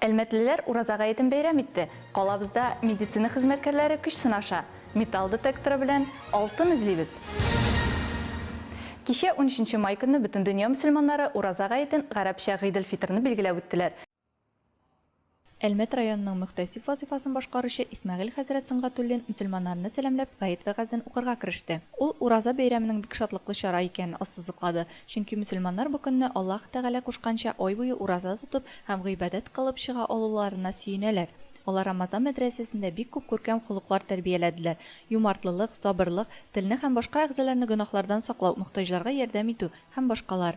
Әлмәтлеләр Ураза гаетен бәйрәм итте. Калабызда медицина хезмәткәрләре көч сынаша. Металл детекторы белән алтын эзлибез. Кичә, унөченче май көнне бөтендөнья мөселманнары Ураза гаетен, гарәпчә Гыйделфитрны билгеләп үттеләр. Әлмәт районының мөхтәсиб вазыйфасын башкаручы Исмәгыйль хәзрәт Сөнгатуллин мөселманнарны сәламләп, гает вәгазен укырга кереште. Ул Ураза бәйрәменең бик шатлыклы чара икәнен ассызыклады, чөнки мөселманнар бу көнне Аллаһ Тәгалә кушканча ай буе ураза тотып һәм гыйбадәт кылып чыга алуларына сөенәләр. Алар Рамазан мәдрәсәсендә бик күп күркәм холыклар тәрбияләделәр, юмартлылык, сабырлык, телне һәм башка әгъзаларны гөнаһлардан саклау, мохтаҗларга ярдәм итү һәм башкалар.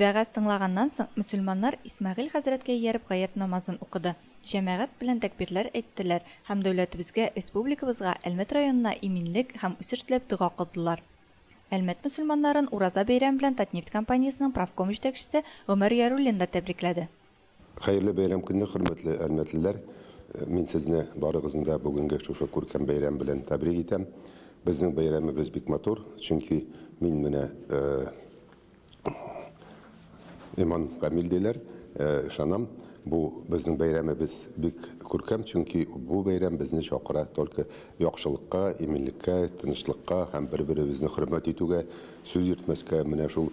Вәгазь тыңлаганнан соң, мөселманнар Исмәгыйль хәзрәткә ияреп гает намазын укыды, җәмәгать белән тәкбирләр әйттеләр һәм дәүләтебезгә, республикабызга, Әлмәт районына иминлек һәм үсеш теләп дога кылдылар. Әлмәт мөселманнарын Ураза бәйрәме белән Татнефть компаниясенең профком җитәкчесе Гомәр Яруллин да тәбрикләде. Хәерле бәйрәм көнне, хөрмәтле әлмәтлеләр! Мин сезне барыгызны да бүгенге шушы күркәм бәйрәм белән тәбрик итәм. Безнең бәйрәмебез бик матур, чөнки мин менә Иман Камил диләр, ышанам, бу безнең бәйрәмебез бик күркәм, чөнки бу бәйрәм безне чакыра только яхшылыкка, иминлеккә, тынычлыкка һәм бер-беребезне хөрмәт итүгә, сүз йөртмәскә, менә шул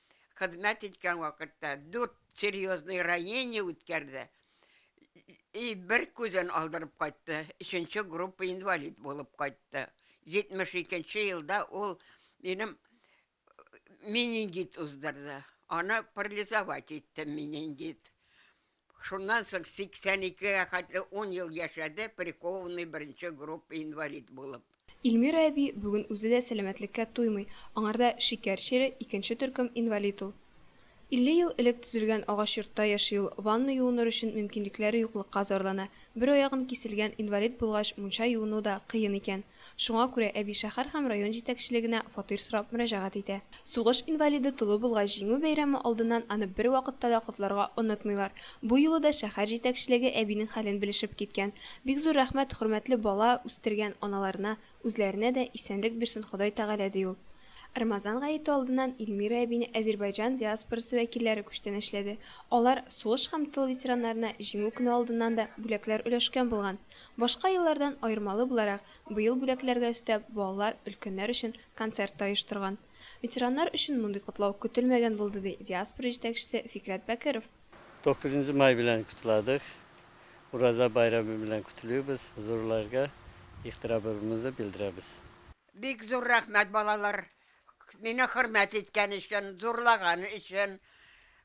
хезмәт иткән вакытта дүрт серьезный ранение үткәрде и бер күзен алдырып кайтты, өченче группа инвалид булып кайтты. 72 нче елда ул минем менингит уздырды, аны парализовать итте менингит. Шуннан соң 82 гә хәтле ун ел яшәде, прикованный беренче группа инвалид булып. Ильмира әби бүген үзе дә сәламәтлеккә туймый, аңарда шикәр чире, икенче төркем инвалид ул. 50 ел элек төзелгән агач йортта яши ул, ванна юыныр өчен мөмкинлекләре юклыкка зарлана, бер аягын киселгән инвалид булгач мунча юыну да кыен икән. Шуңа күрә әби шәһәр һәм район җитәкчелегенә фатир сорап мөрәҗәгать итә. Сугыш инвалиды тулы булгач, Җиңү бәйрәме алдыннан аны бервакытта да котларга онытмыйлар. Бу юлы да шәһәр җитәкчелеге әбинең хәлен белешеп киткән. Бик зур рәхмәт, хөрмәтле бала үстергән аналарына, үзләренә дә исәнлек бирсен Ходай Тәгалә, ди ул. Рамазан гаете алдыннан Ильмира әбине Әзербайҗан диаспорасы вәкилләре күчтәнәчләде. Алар сугыш һәм тыл ветераннарына Җиңү көне алдыннан да бүләкләр өләшкән булган. Башка еллардан аермалы буларак, быел бүләкләргә өстәп, балалар өлкәннәр өчен концерт та оештырган. Ветераннар өчен мондый котлау көтелмәгән булды, ди диаспора җитәкчесе Фикърәт Бәкеров. Тугызынчы май белән котладык. Ураза бәйрәме белән котлыйбыз, зурларга ихтирамыбызны белдерәбез. Бик зур рәхмәт, балалар, мине хөрмәт иткән өчен, зурлаган өчен.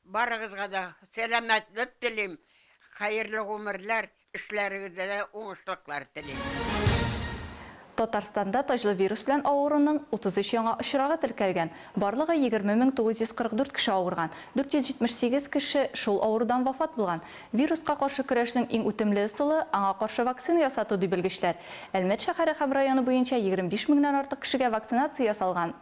Барыгызга да сәламәтлек телим, хәерле гомерләр, Эшләрегездә дә уңышлыклар телим. Татарстанда таҗлы вирус белән авыруның 33 яңа очрагы теркәлгән. Барлыгы 20 мең 944 кеше авырган, 478 кеше шул авырудан вафат булган. Вируска каршы көрәшнең иң үтемле ысулы, аңа каршы вакцина ясату, ди белгечләр. Әлмәт шәһәре һәм районы буенча 25 меңнән артык кешегә вакцинация ясалган.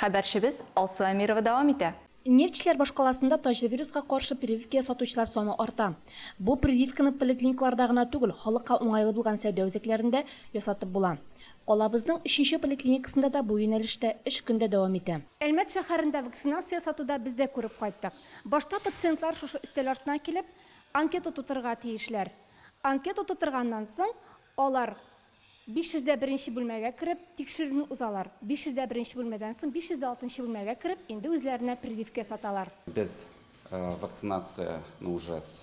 Хәбәрчебез Алсу Әмирова дәвам итә. Нефтьчеләр башкаласында таҗвируска каршы прививка ясатучылар саны арта. Бу прививканы поликлиникаларда гына түгел, халыкка уңайлы булган сәүдә үзәкләрендә ясатып була. Калабызның өченче поликлиникасында да бу юнәлештә эш көн дә дәвам итә. Әлмәт шәһәрендә вакцинация ясату да без дә күреп кайттык. Башта пациентлар шушы өстәл артына килеп, анкета тутырырга тиешләр. Анкета тутырганнан соң, алар 501 нче бүлмәгә кереп, тикшерүне узалар. 501 нче бүлмәдән соң 506 нчы бүлмәгә кереп, инде үзләренә прививка ясаталар. Без вакцинацияне уже с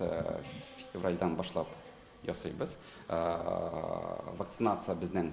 февральдән башлап ясыйбыз. Вакцинация безнең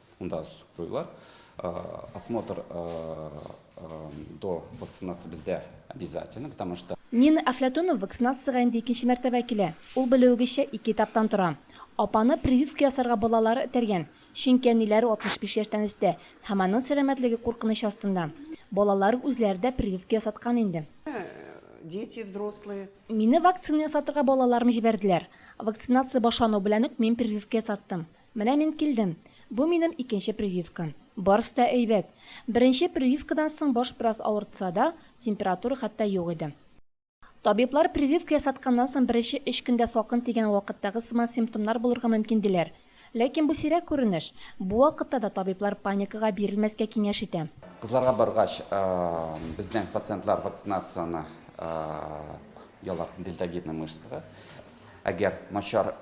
Монда сүк куюлар. Осмотр до вакцинации бездә обязательно, потому что. Нина Әфләтунова вакцинациягә инде икенче мәртәбә килә. Ул, белүегезчә, ике этаптан тора. Апаны прививка ясарга балалары этәргән, чөнки әниләре 65 яшьтән өстә һәм аның сәламәтлеге куркыныч астында. Балалары үзләре дә прививка ясаткан инде. Дети, взрослые. Мине вакцина ясатырга балаларым җибәрделәр. Вакцинация башлану белән үк мин прививка ясаттым. Менә мин килдем. Бу минем икенче прививка. Барысы да әйбәт. Беренче прививкадан соң баш бераз авыртса да, температура хәтта юк иде. Табиблар прививка ясатканнан соң беренче өч көндә салкын тигән вакыттагы сыман симптомнар булырга мөмкин диләр. Ләкин бу сирәк күренеш. Бу вакытта да табиблар паникага бирелмәскә киңәш итә. Кызларга баргач, безнең пациентлар вакцинацияне яллар, дельтовидный мышцага. Әгәр начар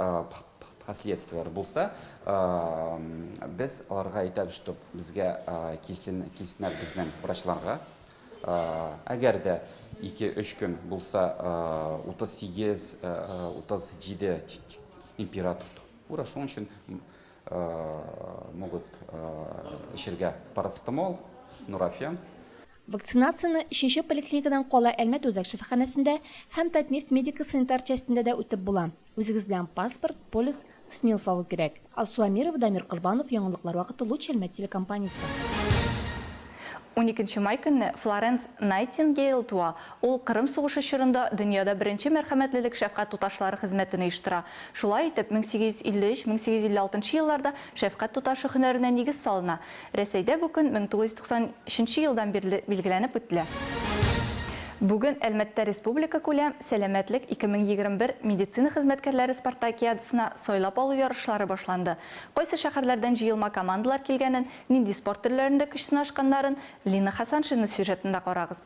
последствияләр булса, без аларга әйтәбез, что безгә кисен киснәр безнең врачларга. Әгәр дә 2-3 көн булса 38-37 температура Ура шуның өчен могут эчергә парацетамол, нурофен. Вакцинацияне өченче поликлиникадан кала Әлмәт үзәк шифаханәсендә һәм Татнефть медико-санитар частендә дә үтеп була. Үзегез белән паспорт, полис, СНИЛС алу кирәк. Алсу Әмирова, Дамир Корбанов, яңалыклар вакыты Луч Әлмәт телекомпаниясе. Уникенче май көнне Флоренс Найтингейл туа. Ул Кырым сугышы чорында дөньяда беренче мәрхәмәтлелек шәфкать туташлары хезмәтен оештыра. Шулай итеп, 1853-1856 елларда шәфкать туташы һөнәренә нигез салына. Рәсәйдә бу көн 1993 нче елдан бирле билгеләнеп үтелә. Бүген Әлмәттә республикакүләм Сәламәтлек 2021 медицина хезмәткәрләре спартакиадасына сайлап алу ярышлары башланды. Кайсы шәһәрләрдән җыелма командалар килгәнен, нинди спорт төрләрендә көч сынашканнарын Лина Хәсаншина сюжетында карагыз.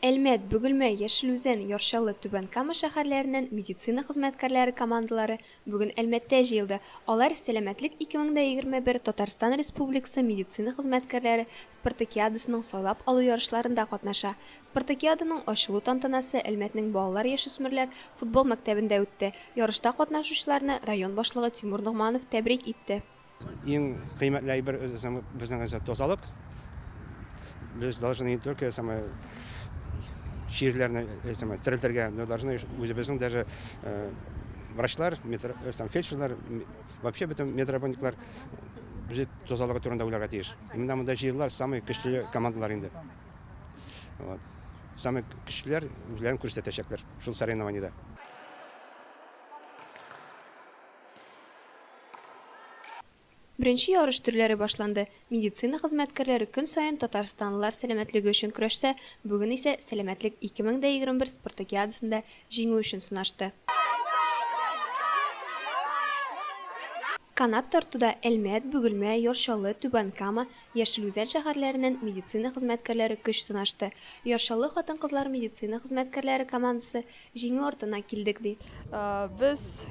Әлмәт, Бөгелмә, Яшел Үзән, Яр Чаллы, Түбән Кама шәһәрләреннән медицина хезмәткәрләре командалары бүген Әлмәттә җыелды. Алар Сәламәтлек 2021 Татарстан Республикасы медицина хезмәткәрләре спартакиадасының сайлап алу ярышларында катнаша. Спартакиаданың ачылу тантанасы Әлмәтнең балалар-яшүсмерләр футбол мәктәбендә үтте. Ярышта катнашучыларны район башлыгы Тимур Ногманов тәбрик итте. Иң кыйммәтле әйбер безнең тазалык. Без должны не только самое чирләрне самое терелтергә, но должны үзебезнең даже врачлар, фельдшерлар, вообще бөтен медработниклар үзе тазалыгы турында уйларга тиеш. Именно монда җыелалар самый көчле командалар инде. Вот. Самый көчлеләр үзләрен күрсәтәчәкләр шул соревнованиедә. Беренче ярыш төрләре башланды. Медицина хезмәткәрләре көн саен татарстанлылар сәламәтлеге өчен көрәшсә, бүген исә Сәламәтлек 2021 спартакиадасында җиңү өчен сынашты. Канат тартуда Әлмәт, Бөгелмә, Яр Чаллы, Түбән Кама, Яшел Үзән шәһәрләреннән медицина хезмәткәрләре көч сынашты. Яр Чаллы хатын-кызлар медицина хезмәткәрләре командасы Җиңү артына килдек, ди. Без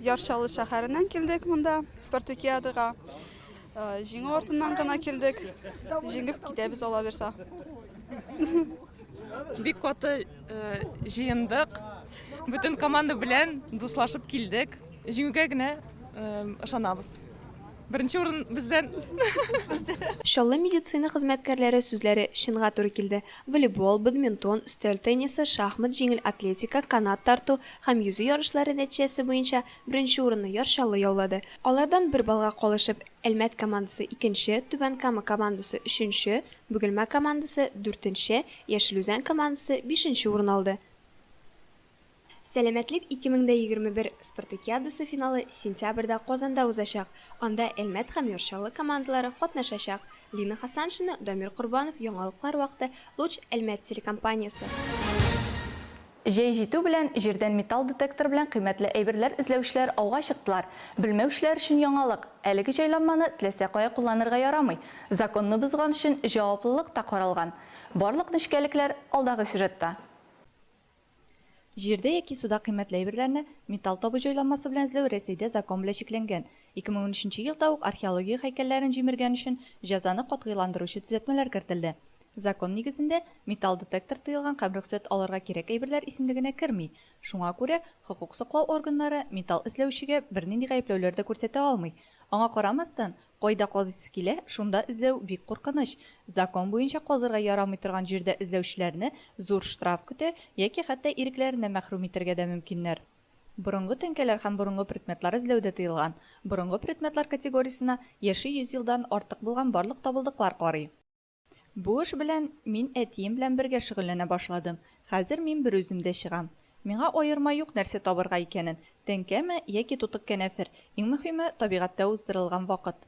Яр Чаллы шәһәреннән килдек монда спартакиадага. Җиңү артыннан гына килдек. Җиңеп китәбез алаберса. Бик каты җыендык. Бөтен команда белән дуслашып килдек. Җиңүгә генә ышанабыз. Беренче урын бездән. Чаллы медицина хезмәткәрләре сүзләре чынга туры килде. Волейбол, бадминтон, өстәл теннисы, шахмат, җиңел атлетика, канат тарту һәм йөзү ярышлары нәтиҗәсе буенча беренче урынны Яр Чаллы яулады. Алардан бер баллга калышып, Әлмәт командасы, икенче, Түбән Кама командасы, өченче, Бөгелмә командасы, дүртенче, Яшел Үзән командасы, бишенче урын алды. Сәламәтлек 2021 спартакиадасы финалы сентябрьдә Казанда узачак. Анда Әлмәт һәм Яр-Чаллы командалары катнашачак. Лина Хасаншина, Дамир Корбанов Яңалыклар вакыты, Луч, Әлмәт телекомпаниясе. Җәй җитү белән, җирдән металл детектор белән кыйммәтле әйберләр эзләүчеләр ауга чыктылар. Белмәүчеләр өчен яңалык, әлеге җайланманы теләсә кая кулланырга ярамый. Законны бозган өчен җаваплылык та каралган. Барлык нечкәлекләр алдагы сюжетта. Җирдә яки суда кыйммәтле әйберләрне металл табу җайланмасы белән эзләү Рәсәйдә закон белән чикләнгән. 2013 елда ук археология һәйкәлләрен җимергән өчен җәзаны катгыйландыручы төзәтмәләр кертелде. Закон нигезендә, металл детектор тыелган һәм рөхсәт алырга кирәк әйберләр исемлегенә керми. Шуңа күрә хокук саклау органнары металл эзләүчегә бернинди гаепләүләр дә күрсәтә алмый. Аңа карамастан, Кайда казыйсы килә, шунда эзләү бик куркыныч. Закон буенча казырга ярамый торган җирдә эзләүчеләрне зур штраф көтә яки хәтта ирекләреннән мәхрүм итәргә дә мөмкиннәр. Борынгы тәңкәләр һәм борынгы предметлар эзләү дә тыелган. Борынгы предметлар категориясенә яше йөз елдан артык булган барлык табылдыклар карый. Бу эш белән мин әтием белән бергә шөгыльләнә башладым. Хәзер мин берүзем дә чыгам. Миңа аерма юк нәрсә табырга икәнен, тәңкәме яки тутык кәнәфер, иң мөһиме, табигатьтә уздырылган вакыт.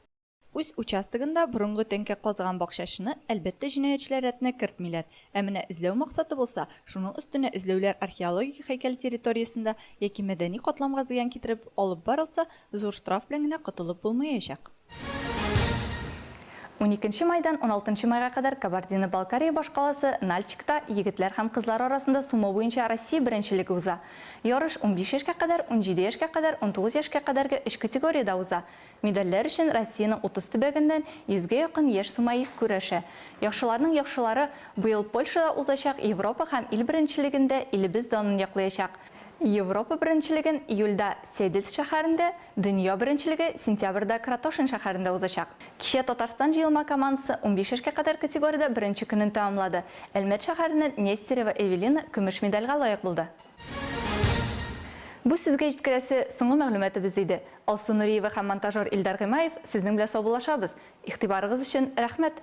Үз участогында борынгы тәңкә казыган бакчачыны, әлбәттә, җинаятьчеләр рәтенә кертмиләр. Ә менә эзләү максаты булса, шуның өстенә эзләүләр археологик һәйкәл территориясендә яки мәдәни катламга зыян китереп алып барылса, Зур штраф белән генә котылып булмаячак. Уникенче майдан уналтынчы майга кадәр Кабардино-Балкария башкаласы Нальчикта егетләр һәм кызлар арасында сумо буенча Россия беренчелеге уза. Ярыш унбиш яшькә кадәр, унҗиде яшькә кадәр, унтугыз яшькә кадәрге өч категориядә уза. Медальләр өчен Россиянең утыз төбәгеннән йөзгә якын яшь сумоист көрәшә. Яхшыларның яхшылары быел Польшада узачак Европа һәм ил беренчелегендә илебез данын яклыячак. Европа беренчелеген июльдә Седельц шәһәрендә, дөнья беренчелеге сентябрьдә Кратошин шәһәрендә узачак. Кичә Татарстан җыелма командасы унбиш яшькә кадәр категориядә беренче көнен тәмамлады. Әлмәт шәһәреннән Нестерова Эвелина көмеш медальгә лаек булды. Бу сезгә җиткерәсе соңгы мәгълүматыбыз иде. Алсу Нуриева һәм монтажер Илдар Гыймаев сезнең белән саубуллашабыз. Игътибарыгыз өчен рәхмәт!